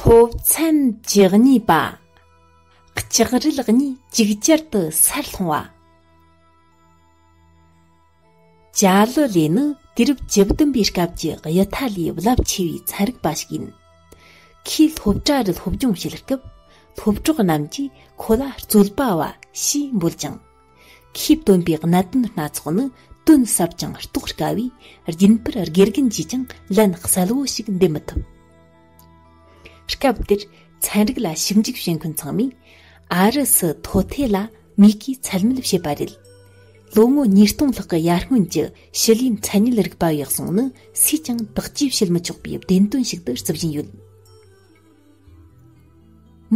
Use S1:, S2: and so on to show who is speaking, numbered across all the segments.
S1: སློབ་ཚན་བཅུ་གཉིས་པ་ལྕགས་རི་ལག་གཉིས་གཅིག་ཅར་དུ་སར་ལྷུང་བ་བྱ་ལོ་ལེ་ནི་དུས་རབས་བཅུ་བདུན་པའི་སྐབས་ཀྱི་གཡུ་ཐ་ལའི་རླབས་ཆེ་བའི་ཚན་རིག་པ་ཞིག་ཡིན་ཁོས་སློབ་གྲྭ་རུ་སློབ་སྦྱོང་བྱེད་སྐབས་སློབ་གྲོགས་རྣམས་ཀྱིས་ཁོ་ལ་རྩོད་པ་བ་ཞེས་འབོད་ཅིང་ཤེས་ལྡན་པའི་གནད་དོན་སྣ་ཚོགས་ནི་དོན་ཟབ་ཅིང་རྟོགས་དཀའ་བས་རྒྱུན་པར་དགེ་རྒན་གྱིས་ཀྱང་ལན་གསལ་བོ་ཞིག་འདེབས་མི་ཐུབ། སྐབས་དེར་ཚན་རིག་ལ་ཞིབ་འཇུག་བྱེད་མཁན་ཚང་མས་ཨ་རི་སི་ཐོ་ཐེ་ལ་མི་གིས་ཚད་མེད་བྱས་པ་རེད། ལོ་ངོ་ཉིས་སྟོང་ལྷག་གི་ཡར་སྔོན་གྱི་ཞི་ལིའི་མཚན་ཉིད་རིག་པ་འོས་གསུངས་ནི་སུས་ཀྱང་དག་བཅོས་བྱེད་མི་ཆོག་པའི་བདེན་དོན་ཞིག་ཏུ་བརྩི་བཞིན་ཡོད།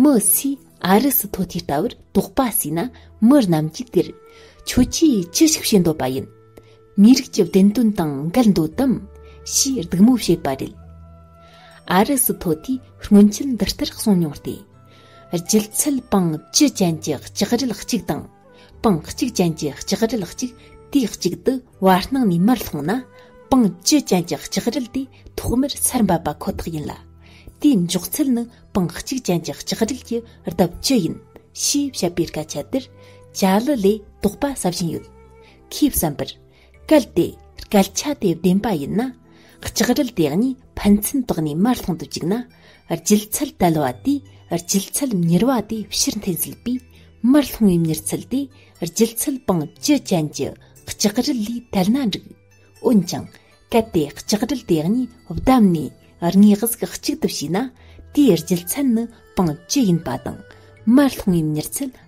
S1: མི་ཚོས་ཨ་རི་སི་ཐོ་ཐེའི་ལྟ་བར་དོགས་པ་བྱས་ན་མི་རྣམས་ཀྱིས་དེར་ཁྱོད་ཀྱིས་ཅི་ཞིག་བྱེད་འདོད་པ་ཡིན། མིའི་རིགས་ཀྱི་བདེན་དོན་དང་འགལ་འདོད་དམ་ཞེས་སྡུག་མོ་བྱེད་པ་རེད། ཨ་རི་སི་ཐོ་ཐེའི་སྔོན་ཆད་འདི་ལྟར་གསུངས་མྱོང་སྟེ། སྒྱུ་རྩལ་པང་བཅུ་ཅན་གྱི་ལྕགས་རིལ་གཅིག་དང། པང་གཅིག་ཅན་གྱི་ལྕགས་རིལ་གཅིག་དུས་གཅིག་ཏུ་བར་སྣང་ནས་མར་ལྷུང་ན་པང་བཅུ་ཅན་གྱི་ལྕགས་རིལ་དེ་ཐོག་མར་ཚར་འབབ་པ་ཁོ་ཐག་ཡིན་ལ། དེའི་མགྱོགས་ཚད་ནི་པང་གཅིག་ཅན་གྱི་ལྕགས་རིལ་གྱི་ལྡབ་བཅུ་ཡིན། ཞེས་བཤད་པའི་སྐད་ཆ་དེར་ཅཱ་ལི་ལས་དོགས་པ་ཟ་བཞིན་ཡོད། ཁོས་བསམ་པར། གལ་ཏེ་སྐད་ཆ་དེ་བདེན་པ་ཡིན་ན་ལྕགས་རིལ་དེ་གཉིས་ཕན་ཚུན་དོགས་ནས་མར་ལྷུང་དུ་བཅུག་ན་སྒྱུ་རྩལ་དལ་བ་དེས་སྒྱུ་རྩལ་མྱུར་བ་དེ་ཕྱིར་འཐེན་སྲིད་པས་མར་ལྷུང་བའི་མྱུར་ཚད་དེ་སྒྱུ་རྩལ་པང་བཅུ་ཅན་གྱི་ལྕགས་རིལ་ལས་དལ་ན་འགྲིག་འོན་ཀྱང་གལ་ཏེ་ལྕགས་རིལ་དེ་གཉིས་བསྡམས་ནས་རྙེད་གཟུགས་གཅིག་ཏུ་བྱས་ན་དེའི་སྒྱུ་རྩལ་ནི་པང་བཅུ་ཡིན་པ་དང་མར་ལྷུང་བའི་མྱུར་ཚད་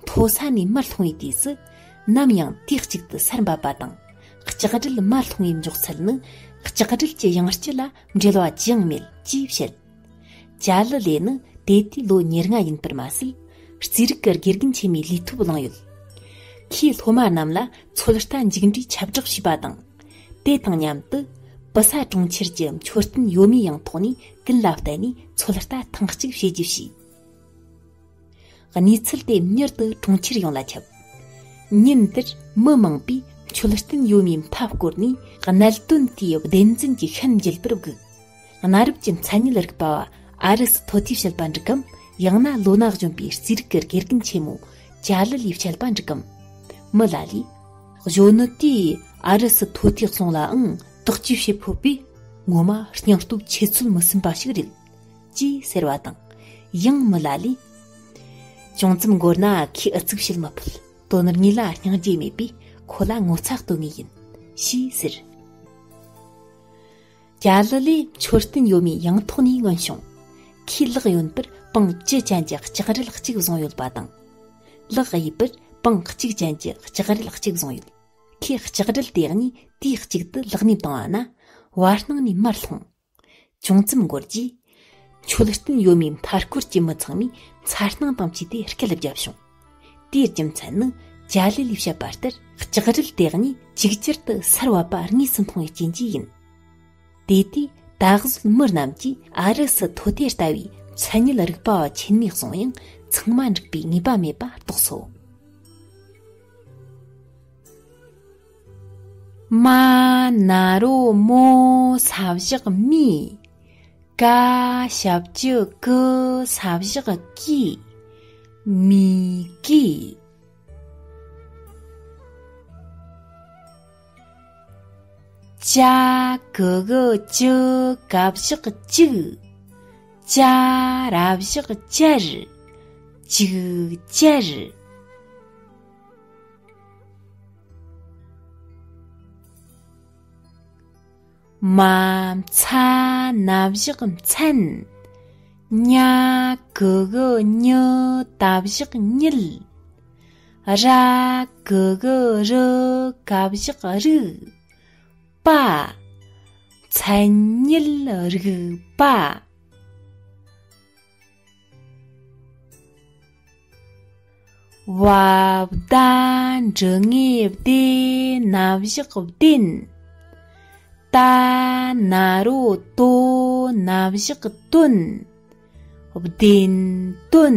S1: མཐོ་ས་ནས་མར་ལྷུང་བའི་དུས་སུ་ནམ་ཡང་དུས་གཅིག་ཏུ་སར་འབབ་པ་དང་ལྕགས་སྒྲིལ་མར་ལྷུང་བའི་མགྱོགས་ཚད་ནི་ལྕགས་སྒྲིལ་གྱི་ཡང་སྤྱི་ལ་འབྲེལ་བ་ཅི་ཡང་མེད་ཅེས་བཤད། ཅཱ་ལི་ལེ་ནི་དེ་དུས་ལོ་ཉེར་ལྔ་ཡིན་པར་མ་ཟད་རྩིས་རིག་གི་དགེ་རྒན་ཆེན་མོའི་ལས་ཐོབ་བླངས་ཡོད། ཁོས་སློབ་མ་རྣམས་ལ་ཚོད་ལྟ་མཇུག་འབྲས་ཁྱབ་བསྒྲགས་བྱས་པ་དང། དེ་དང་མཉམ་དུ་པི་སཱ་གྲོང་ཁྱེར་གྱི་མཆོད་རྟེན་ཡོད་མེད་ཡང་ཐོག་ནས་ཀུན་ལ་བལྟས་ནས་ཚོད་ལྟ་ཐེངས་གཅིག་བྱེད་རྒྱུ་བྱས། གནས་ཚུལ་དེ་མྱུར་དུ་གྲོང་ཁྱེར་ཡོངས་ལ་ཁྱབ། ཉིན་དེར་མི་མང་པོས་མཆོད་རྟེན་ཡོད་མེད་མཐའ་བསྐོར་ནས་གནད་དོན་དེའི་བདེན་རྫུན་གྱི་ཤན་འབྱེད་པར་བསྒུགས། གནའ་རབས་ཀྱི་མཚན་ཉིད་རིག་པ་བ་ཨ་རི་སི་ཐོ་ཐིའི་དཔྱད་པ་འགྲིག་གམ་ཡང་ན་ལོ་ན་གཞོན་པའི་རྩིས་རིག་གི་དགེ་རྒན་ཆེན་མོ་ཅཱ་ལི་ལིའི་དཔྱད་པ་འགྲིག་གམ། མི་ལ་ལས། གཞོན་ནུ་དེས་ཨ་རི་སི་ཐོ་ཐི་གསུངས་ལའང་དག་བཅོས་བྱེད་ཕོད་པས་ངོ་མ་སྙིང་སྟོབས་ཆེ་ཚུལ་མི་སེམས་པ་ཞིག་རེད། ཅེས་ཟེར་བ་དང། ཡང་མི་ལ་ལས། ཅུང་ཙམ་འགོར་ན་ཁོས་ཨུ་ཚུགས་བྱེད་མི་ཕོད་དོ་ནུབ་གཉིས་ལ་སྙིང་རྗེ་མེད་པས་ཁོ་ལ་ངོ་ཚ་གཏོང་ངེས་ཡིན། ཞེས་ཟེར། རྒྱ་ལི་ལས་མཆོད་རྟེན་ཡོད་མེད་ཡང་ཐོག་ནས་མངོན་བྱུང། ཁོས་ལག་གཡོན་པར་པང་བཅུ་ཅན་གྱི་ལྕགས་རིལ་གཅིག་བཟུང་ཡོད་པ་དང། ལག་གཡས་པར་པང་གཅིག་ཅན་གྱི་ལྕགས་རིལ་གཅིག་བཟུང་ཡོད། ཁོས་ལྕགས་རིལ་དེ་གཉིས་དུས་གཅིག་ཏུ་ལག་ནས་བཏང་བ་ན་བར་སྣང་ནས་མར་ལྷུང། ཅུང་ཙམ་འགོར་རྗེས། མཆོད་རྟེན་ཡོད་མེད་མཐའ་སྐོར་གྱི་མི་ཚང་མས་མཚར་སྣང་དང་བཅས་ཏེ་སྐད་བརྒྱབ་བྱུང། དེའི་རྒྱུ་མཚན་ནི་ཇཱ་ལི་ལིས་བཤད་པ་ལྟར་ལྕགས་རིལ་དེ་གཉིས་གཅིག་གྱུར་དུ་སར་བབས་པ་དངོས་སུ་མཐོང་བའི་རྐྱེན་གྱིས་ཡིན། དེ་དུས་ད་གཟོད་མི་རྣམས་ཀྱིས་ཨ་རི་སི་ཐོ་དེ་ལྟ་བུའི་མཚན་ཉིད་རིག་པ་བ་ཆེན་མོའི་གསུང་དབྱངས་ཚང་མ་འགྲིག་པའི་ངེས་པ་མེད་པ་རྟོགས་སོ། མ་ན་རོ་མོ་ས་བཞག་མི། ཀ་ཞབས་ཀྱི་ཀི་ས་བཞག་ཀི། མི་ཀི། ཅ་ཀི་གི་ཅི་ཀ་བཞག་ཅིག། ཅ་ར་བཞག་ཅར། ཅིག་ཅར། མ་ཚ་ན་བཞག་མཚན་ཉ་གུ་གུ་ཉི་ད་བཞག་ཉིལ་ར་གུ་གུ་རུ་ག་བཞག་རུག་པ་མཚན་ཉིལ་རུག་པ། བརྡ་འབྲི་ངེས་བདེ་ན་བཞག་བདེན་ལྟ་ན་རོ་ལྟོ་ན་བཞག་དོན་བདེན་དོན